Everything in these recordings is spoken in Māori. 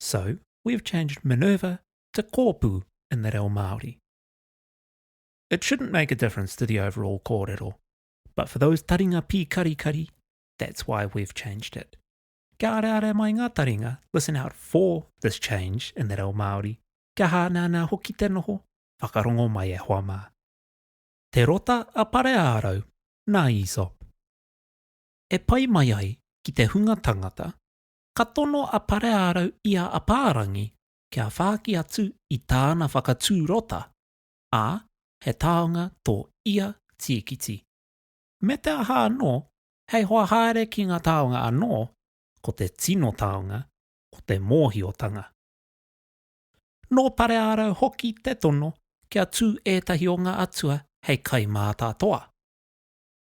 So, we've changed Minerva to Kōpū in the reo Māori. It shouldn't make a difference to the overall kōrero, but for those taringa pīkarikari, that's why we've changed it. Kia arearea mai ngā taringa, listen out for this change in the reo Māori, kia hāneanea hoki te noho, whakarongo mai e hoa mā. Te rota a Pareārau, nā Aesop. E pai mai ai ki te hunga tangata, ka tono a Pareārau i a Apārangi kia whāki atu i tāna whakatū rota, ā, he taonga tō ia tīkiti. Me te aha anō, hei hoa haere ki ngā taonga anō, ko te tino taonga, ko te mōhiotanga. Nō Pareārau hoki te tono kia tū ētahi o ngā atua hei kaimātātoa.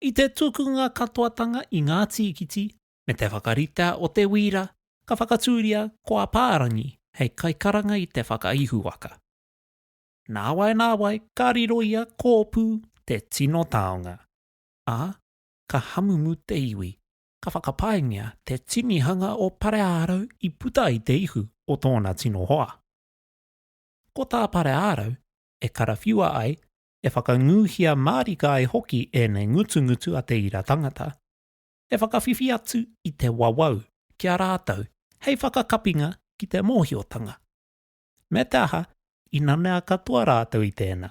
I te tukunga katoatanga i ngā tīkiti, me te whakarita o te wīra ka whakatūria ko Apārangi hei kaikaranga i te whakaihuwaka. Nāwai nāwai ka riro i a Kōpū te tino taonga, ā, ka hamumu te iwi, ka whakapaingia te tinihanga o Pareārau i puta i te ihu o tōna tino hoa. Ko tā Pareārau e karawhiua ai, e whakangūhia mārika ai hoki ēnei ngutungutu a te ira tangata, e whakawhiwhi atu i te wawau ki a rātou hei whakakapinga ki te mōhiotanga. Me te aha, i nanea katoa rātou i tēnā.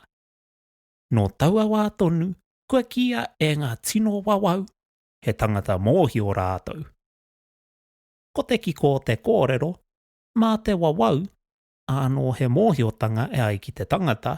Nō taua wā tonu kua kīia e ngā tino wawau he tangata mōhio rātou. Ko te kiko o te kōrero, mā te wawau ānō he mōhiotanga e ai ki te tangata,